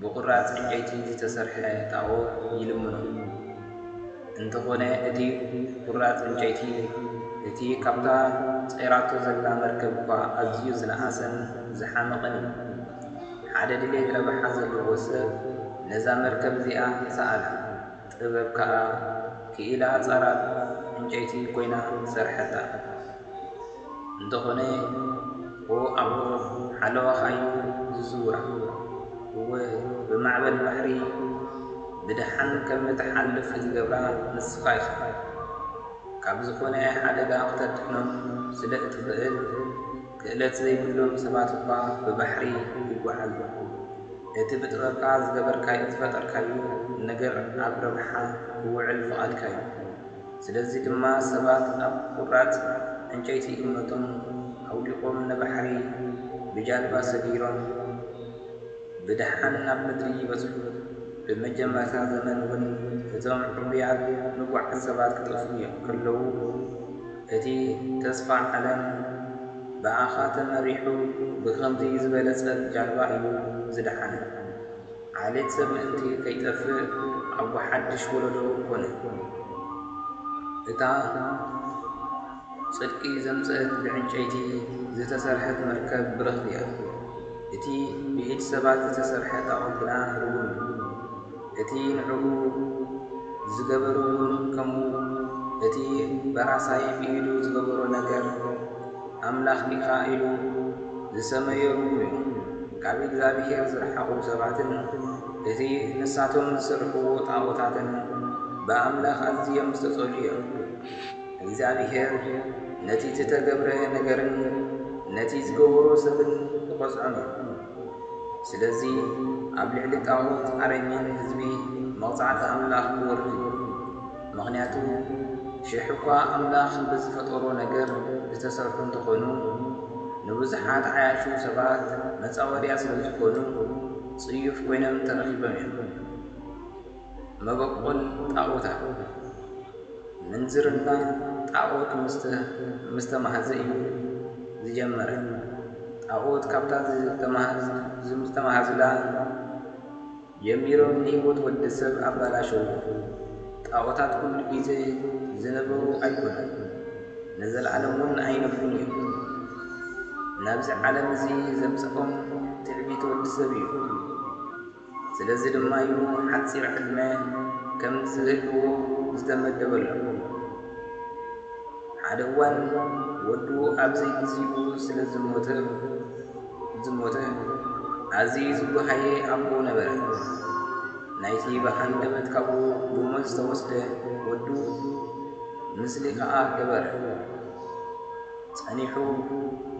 ብቑራጽ ዕንጨይቲ ዝተሰርሐ ጣኦት ይልምኖ። እንተዀነ እቲ ቍራጽ ዕንጨይቲ እቲ ኻብታ ጸይራቶ ዘላ መርከብ እኳ ኣዝዩ ዝነኣሰን ዝሓመቐን እዩ። ሓደ ድሌት ረብሓ ዘለዎ ሰብ ነዛ መርከብ እዚኣ ሰኣላ። ጥበብ ከኣ ክኢላ ጸራብ ዕንጨይቲ ኮይና ሰርሐታ። እንተኾነ ብ ኣቦ ሓለዋኻ'ዩ ዝዝውራ። እወ ብማዕበል ባሕሪ ብደሓን ከም እትሓልፍ ዝገብራ ንስኻ ኢኻ። ካብ ዝኾነ ሓደጋ ክተድሕኖም ስለ እትኽእል። ክእለት ዘይብሎም ሰባት እኳ ብባሕሪ ይጓዓዙ። እቲ ብጥበብካ ዝገበርካዮ ዝፈጠርካዮ ነገር ኣብ ረብሓ ክውዕል ፍቓድካዩ። ስለዚ ድማ ሰባት ኣብ ቁራጽ ዕንጨይቲ እምነቶም ኣውዲቖም ንባሕሪ ብጃልባ ሰጊሮም ብደሓን ናብ ምድሪ ይበጽሑ። ብመጀመርታ ዘመን ውን እቶም ዕቡያት ንጉዓት ሰባት ክጠፍኡ ከለዉ፣ እቲ ተስፋ ዓለም ብኣኻ ተመሪሑ ብኸምዚ ዝበለጸት ጃልባ እዩ ዝደሓነ። ዓሌት ሰብ ምእንቲ ከይጠፍእ ኣቦ ሓድሽ ወለዶ ኮነ። እታ ጽድቂ ዘምጽእት ብዕንጨይቲ ዝተሰርሐት መርከብ ብርኽቲ እያ። እቲ ብኢድ ሰባት ዝተሰርሐ ጣኦት ግና ርጉም እዩ። እቲ ንዕኡ ዝገበሩሉን ከምኡ እቲ በራሳይ ብኢዱ ዝገበሮ ነገር ኣምላኽ ኢኻ ኢሉ ዝሰመዮምም እዩ። ካብ እግዚኣብሄር ዝረሓቑ ሰባትን እቲ ንሳቶም ዝስርሕዎ ጣኦታትን ብኣምላኽ ኣዝዮም ዝተጸልኡ እዮም። እግዚኣብሄር ነቲ ዝተገብረ ነገርን ነቲ ዝገበሮ ሰብን ክቐጽዖም እዩ። ስለዚ ኣብ ልዕሊ ጣዖት ኣረሚን ህዝቢ መቕጻዕቲ ኣምላኽ ክወርድ እዩ። ምኽንያቱ ሽሕ እኳ ኣምላኽ ብዝፈጠሮ ነገር ዝተሰርሑ እንተኾኑ ንብዙሓት ዓያሹ ሰባት መጻወድያ ስለዝኾኑ ጽዩፍ ኮይኖም ተረኺቦም እዮም። መበቆል ጣኦታት ምንዝርና ጣኦት ምስ ተማህዘ እዩ ዝጀመረ ጣኦት ካብታ ዝተማህዙላ ጀሚሮም ንሂወት ወዲ ሰብ ኣባላሸውዎ ጣኦታት ኩሉ ግዘ ዝነበሩ ኣይኮኑን ንዘልኣለም ውን ኣይነብሩን እዮም ናብዚ ዓለም እዚ ዘምፀኦም ትዕቢት ወዲ ሰብ እዩ። ስለዚ ድማ እዩ ሓጺር ዕድመ ከም ዝህልዎ ዝተመደበሎም። ሓደ እዋን ወዱ ኣብ ዘይግዜኡ ስለ ዝሞተ፣ ኣዝዩ ዝጓሃየ ኣቦ ነበረ። ናይቲ ብሃንደበት ካብኡ ብሞት ዝተወስደ ወዱ ምስሊ ኸኣ ገበረ። ጸኒሑ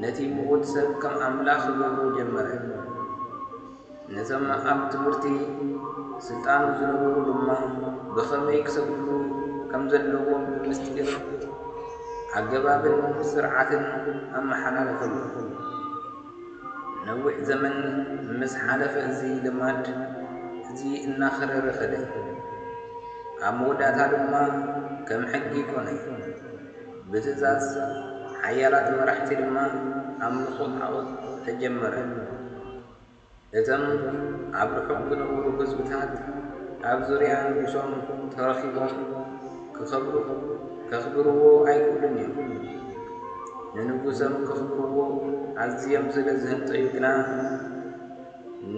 ነቲ ምዉት ሰብ ከም ኣምላኽ ክገብሮ ጀመረ። ነዞም ኣብ ትምህርቲ ስልጣኑ ዝነበሩ ድማ ብኸመይ ክሰግድሉ ከም ዘለዎም ብምስጢር ኣገባብን ስርዓትን ኣመሓላለፈሎም። ነዊሕ ዘመን ምስ ሓለፈ እዚ ልማድ እዚ እናኸረረ ከደ። ኣብ መወዳእታ ድማ ከም ሕጊ ኮነ። ብትእዛዝ ሓያላት መራሕቲ ድማ ኣምልኾ ጣኦት ተጀመረ። እቶም ኣብ ርሑቕ ዝነበሩ ህዝብታት ኣብ ዙርያ ንጉሶም ተረኺቦም ክኸብሩ ከኽብርዎ ኣይክእሉን እዮም። ንንጉሶም ከኽብርዎ ኣዝዮም ስለ ዝህንጠዩ ግና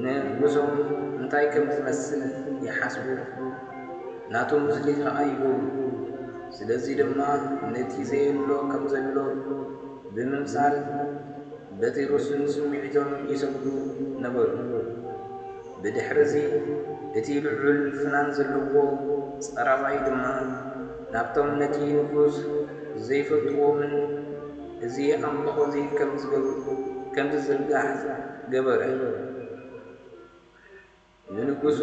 ንጉሶም እንታይ ከም ዝመስል ይሓስቡ፣ ናቱ ምስሊ ከኣ ይገብሩ። ስለዚ ድማ ነቲ ዘየሎ ከም ዘሎ ብምምሳል፣ በቲ ርሱን ስምዒቶም ይሰግዱ ነበሩ። ብድሕርዚ እቲ ልዑል ፍናን ዘለዎ ጸራባይ ድማ ናብቶም ነቲ ንጉስ ዘይፈልጥዎምን እዚ ኣምልኾ እዚ ኸም ዚዝርጋሕ ገበረ። ንንጉሱ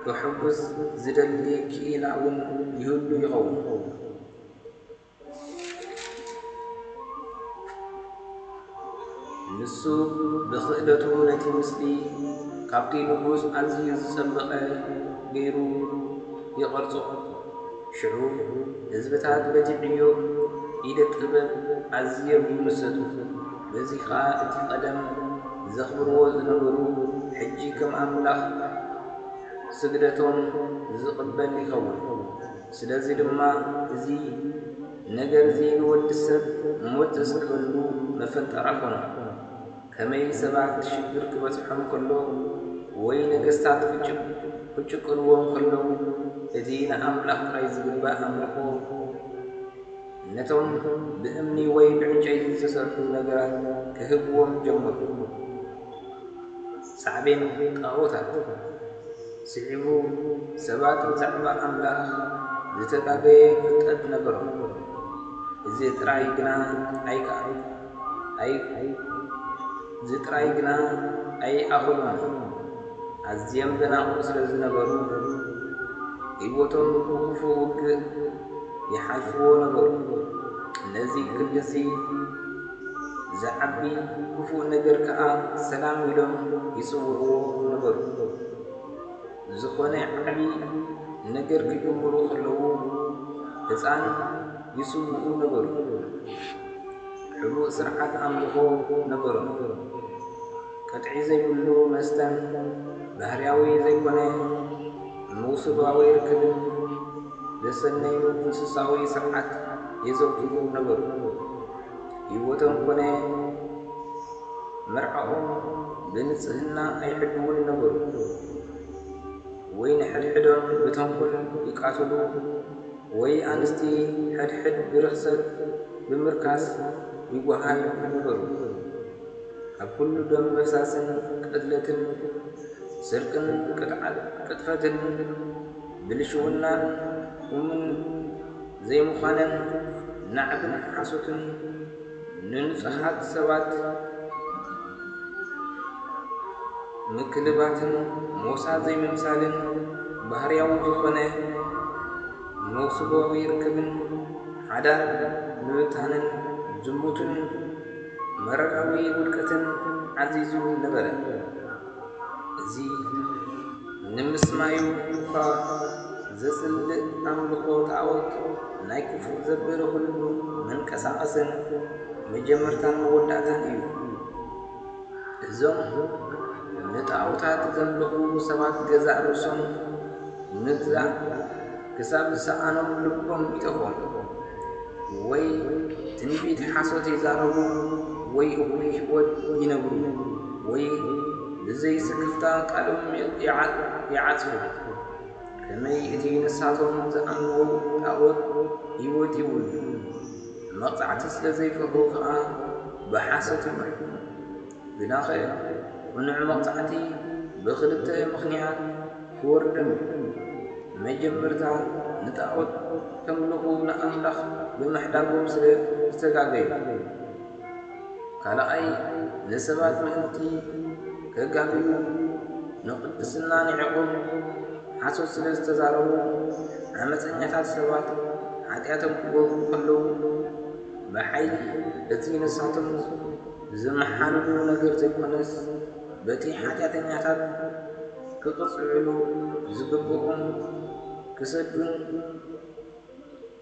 ከሐጕስ ዚደሊ ክኢላ ውን ይህሉ ይኸውን። ንሱ ብኽእለቱ ነቲ ምስሊ ኻብቲ ንጉስ ኣዝዩ ዝጸበቐ ገይሩ ይቐርጾ። ሽዑ ህዝብታት በቲ ዕዮ ኢደ ጥበብ ኣዝዮም ይምሰጡ። በዚ ከኣ እቲ ቀደም ዘኽብርዎ ዝነበሩ ሕጂ ከም ኣምላኽ ስግደቶም ዝቕበል ይኸውን። ስለዚ ድማ እዚ ነገርዚ ንወዲ ሰብ ሞት ዝስዕበሉ መፈንጠራ ኮኖ። ከመይ ሰባት ሽግር ክበጽሖም ከሎ ወይ ነገስታት ክጭቁንዎም ከለዉ እቲ ንኣምላኽ ጥራይ ዝግባእ ኣምልኾ፣ ነቶም ብእምኒ ወይ ብዕንጨይቲ ዝተሰርሑ ነገራት ክህብዎም ጀመሩ፣ ሳዕቤን ጣኦታት ስዒቡ ሰባት ብዛዕባ ኣምላኽ ዝተጋገየ ፍልጠት ነበሮም፣ እዚ ጥራይ ግና ኣይከኣሎን። እዚ ጥራይ ግና ኣይኣኸሎምን፣ ኣዝዮም ደናቑር ስለ ዝነበሩ፣ ህይወቶም ብኽፉእ ውግእ ይሓልፍዎ ነበሩ። ነዚ ክንድዚ ዚዓቢ ኽፉእ ነገር ከኣ ሰላም ኢሎም ይጽውዕዎ ነበሩ። ዝኾነ ዓቢ ነገር ክጅምሩ ከለዉ ህጻን ይስውኡ ነበሩ። ሕቡእ ስርዓት ኣምልኾ ነበሮም። ቅጥዒ ዘይብሉ መስተን ባህርያዊ ዘይኮነ መውስባዊ ርክብን ዘሰነዩ እንስሳዊ ስርዓት የዘውትሩ ነበሩ። ህይወቶም ኰነ መርዓኦም ብንጽህና ኣይሕልዉን ነበሩ፣ ወይ ንሓድሕዶም ብተንኰል ይቃትሉ፣ ወይ ኣንስቲ ሓድሕድ ብርኽሰት ብምርካስ ይጓሃዩ ነበሩ። ካብ ኵሉ ደም ምፍሳስን ቅትለትን ስርቅን ቅጥፈትን ብልሽውናን ኡምን ዘይምዃነን ናዕብን ሓሶትን ንንጹሃት ሰባት ምክልባትን ሞሳ ዘይምምሳልን ባህርያዊ ዝኾነ መውስቦዊ ርክብን ሓዳር ምብታንን ዝሙትን መረራዊ ውድቀትን ዓዚዙ ነበረ። እዚ። ንምስማዩ እኳ ዘጽልእ ኣምልኾ ጣዖት ናይ ክፉእ ዘበለ ኩሉ መንቀሳቐስን መጀመርታን መወዳእታን እዩ። እዞም ንጣዖታት ዘምልኹ ሰባት ገዛእ ርእሶም ምግዛእ ክሳብ ዝሰኣኖም ልቦም ይጠፍኦም። ወይ ትንቢት ሓሶት ይዛረቡ ወይ እኹል ህይወት ይነብሩ ወይ ብዘይ ስክፍታ ቃሎም ይዓጽፉ። ከመይ እቲ ንሳቶም ዝኣምንዎ ጣኦት ህይወት የብሉን፣ ንመቕጻዕቲ ስለ ዘይፈርሁ ኸኣ ብሓሶት ይምርሑ። ግናኸ ቅኑዕ መቕጻዕቲ ብኽልተ ምኽንያት ክወርዶም እዩ። መጀመርታ ንጣኦት ከምልኹ ንኣምላኽ ብምሕዳጎም ስለ ዝተጋገዩ። ካልኣይ ንሰባት ምእንቲ ከጋግዩ ንቅድስና ንዒቆም ሓሶት ስለ ዝተዛረቡ ዓመጸኛታት ሰባት ሓጢኣቶም ክገብሩ ከለዉ ብሓይሊ እቲ ንሳቶም ዝመሓልሉ ነገር ዘይኮነስ በቲ ሓጢኣተኛታት ክቅጽዕሉ ዝግብኦም ክሰዱን